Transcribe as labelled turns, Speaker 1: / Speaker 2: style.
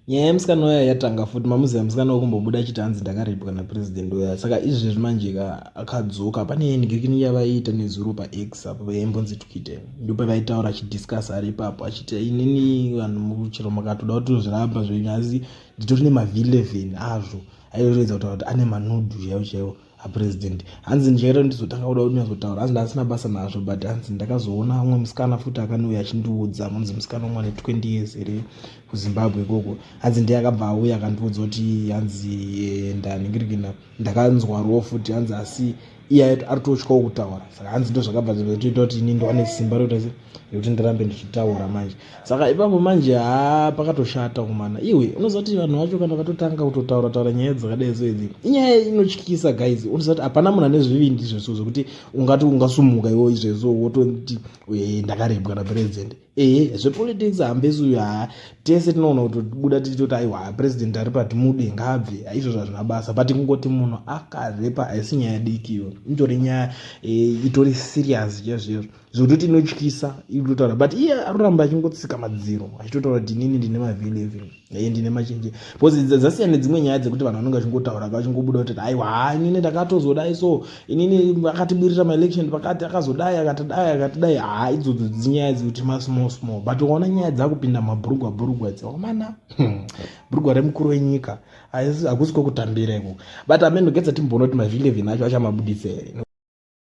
Speaker 1: nyaya yemusikana uya yatanga futi mamuziva musikana wekumbobuda achiti hanzi ndakaripwa napresident uya saka izvezvi manje ka akadzoka pane engekini yavaiita nezuro pax apo vaimbonzi twite ndopevaitaura achidiscuss ari ipapo achiti inini vanhu muchero makatoda kuti tozviramba zvenyu asi nditori nemavhi 11 azvo aitoredza kutaura kuti ane manudu chaivo chaivo apresident hanzi njairo ndizotanga kuda kuti nyatsotaura hanzi ndaasina basa nazvo but hanzi ndakazoona umwe musikana futi akanouya achindiudza munzi musikana umwe ane 20 years here kuzimbabwe ikoko hanzi ndiye akabva auya akandiudza kuti hanzi eh, ndaningirikina ndakanzwa ro futi hanzi asi iye aitotyawo kutaura saka hanzi ndozvakabva zvatoita kuti ini ndoane simba rokuta yekuti ndirambe ndichitaura manje saka ipapo manje haa pakatoshata kumana iwe unoziva kuti vanhu vacho kana vakatotanga kutotaura taura nyaya dzakadai so idzi inyaya inotyisa guys unoziva kuti hapana munhu ane zvivindi izvezvo zvekuti ungati ungasumuka iwo izvezvo wototi eh, ndakarebwa napresident ehe zvepolitics hambesi uyo haa tese tinoona kutobuda tichitoti aiwa president ari pati mude ngaabve izvozvo hazvina basa but kungoti munhu akarepa haisi nyaya diki iyo itori nyaya eh, itori serious chaizvoizvo zvototi inotyisa ikutotaura but iye aroramba achingotsika madziro achitotaura kuti inini ndine maveleve aye ndine machenje bcause dzasiyana nedzimwe nyaya dzekuti vanhu vanenge vachingotaura vachingobuda kuti aiwa inini ndakatozodai so inini akatibirira maelection pakati akazodai akatidai akatidai haa idzodzo dzinyaya dzekuti masmall small but ukaona nyaya dzakupinda mabhurugwa bhurugwa dzawamana hmm, bhurugwa remukuru wenyika hakusi kwekutambira iko but ameno getsa timbonoti maveleve nacho achamabuditsa here